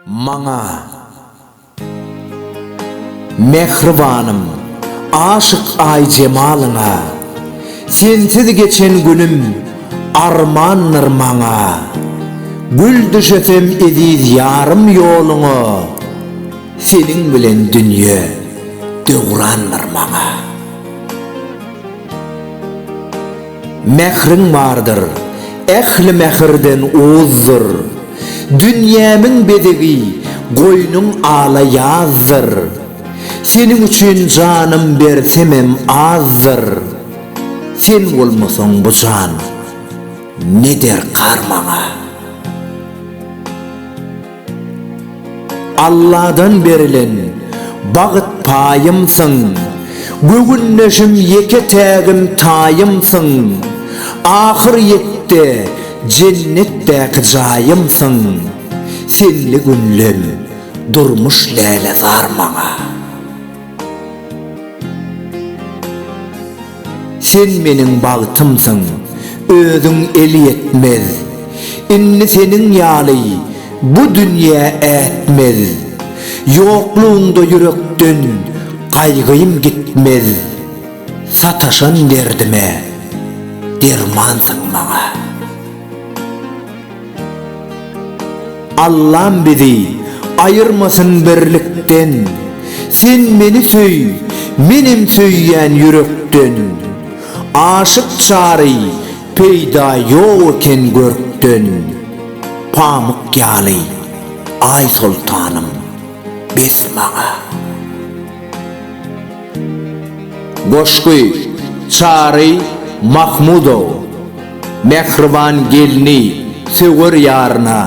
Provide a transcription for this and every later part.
Maňa, mähribanym, aşyk Aýjemalyňa, Sensiz geçen günüm armandyr maňa. Gül düşesem eziz ýarym ýoluňa, Seniň bilen dünýe döwrandyr maňa. Mähriň bardyr, ähli mähirden uzdyr. Dünýämiň bezegi, goýnuň ala ýazdyr. Seniň üçin janym bersemem azdyr. Sen bolmasaň bu jan ne derkar maňa. Alladan berilen bagyt paýymsyň, Göwündeşim ýeke-tägim taýymsyň, Ahyrýetde jennetdäki jaýymsyň, Senli günlem durmuş lälezar maňa. Sen meniň bagtymsyň, özüň elýetmez, Indi seniň ýaly bu dünýä ätmez. Ýoklugyňda ýürekden gaýgym gitmez, Sataşan derdime dermansyň maňa. Allam bizi aýyrmasyn birlikden Sen meni söý, menem söýýän ýürekden Aşyk çary peýda ýok eken görkden Pamyk ýaly Aýsoltanym bes maňa. Goşgy, Çary Mahmudow, Mähriban gelni söwer ýaryna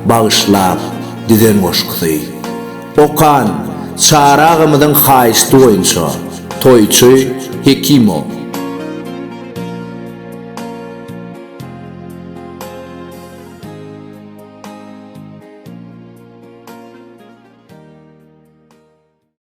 bagyşlap düzen goşgusy. Okan, Çary agamyzyň haýyşty boýunça, toýçy Hekimow.